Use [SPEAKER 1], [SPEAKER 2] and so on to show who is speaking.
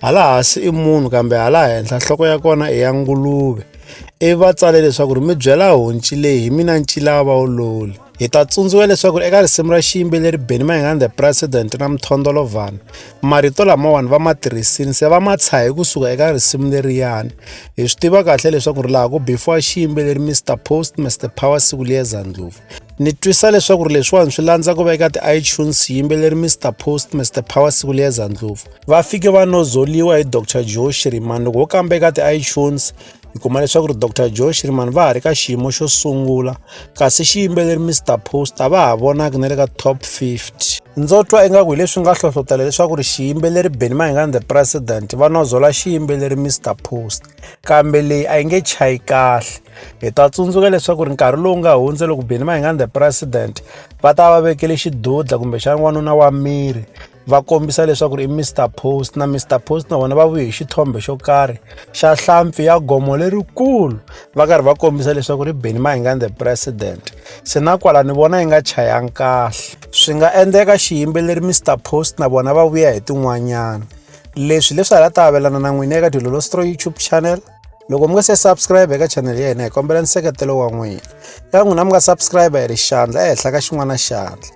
[SPEAKER 1] Hala hansi i munhu kambe hala henhla nhloko ya kona i ya nguluve. Ivi va tsale leswaku ri mi byela honci leyi hi mina ncilava wololi. Hi ta tsundzuka leswaku eka risimu ra xiyimbeleri Benny Mayengani the President na Mthondolovhana marito lamawani va ma tirhisini se va ma tshahe kusuka eka risimu leriyani. Hi swi tiva kahle leswaku ri laha ku bifiwa xiyimbeleri Mr Post Mr Power siku liyeza ndlopfu. Ni twisa leswaku ri leswiwani swi landza ku va eka ti-iTunes xiyimbeleri Mr Post Mr Power siku liyeza ndlopfu. va fike va nozoliwa hi dr joe shiriman loko wo kamba eka ti-itunes hi kuma leswaku ri dr joe shiriman va ha ri ka xiyimo xo sungula kasi xiyimbeleri mr post a va ha vonaki na le ka top 50 ndzo twa ingaku hi leswi nga hlohlotela leswaku ri xiyimbeleri beni mahingani the president va nozola xiyimbeleri mr post kambe leyi a yi nge chayi kahle hi ta tsundzuka leswaku ri nkarhi lowu nga hundze loko beni mahingani the president va ta va vekele xidudla kumbexana n'wanuna wa miri va kombisa leswaku ri i Mr Post na Mr Post na vona va vuye hi xithombe xo karhi xa hlampfi ya gomo lerikulu va karhi va kombisa leswaku ri Benny Mayengani the president se na kwala ni vona yi nga chayanga kahle swi nga endleka xiyimbeleri Mr Post na vona va vuya hi tin'wanyana leswi leswi hala ta avelana na n'wina eka Dilolo Stro YouTube channel loko mi nga se subscribe eka channel ya hina hi kombela nseketelo wa n'wina ka n'wina mi nga subscribe hi ri xandla ehenhla ka xin'wana xandla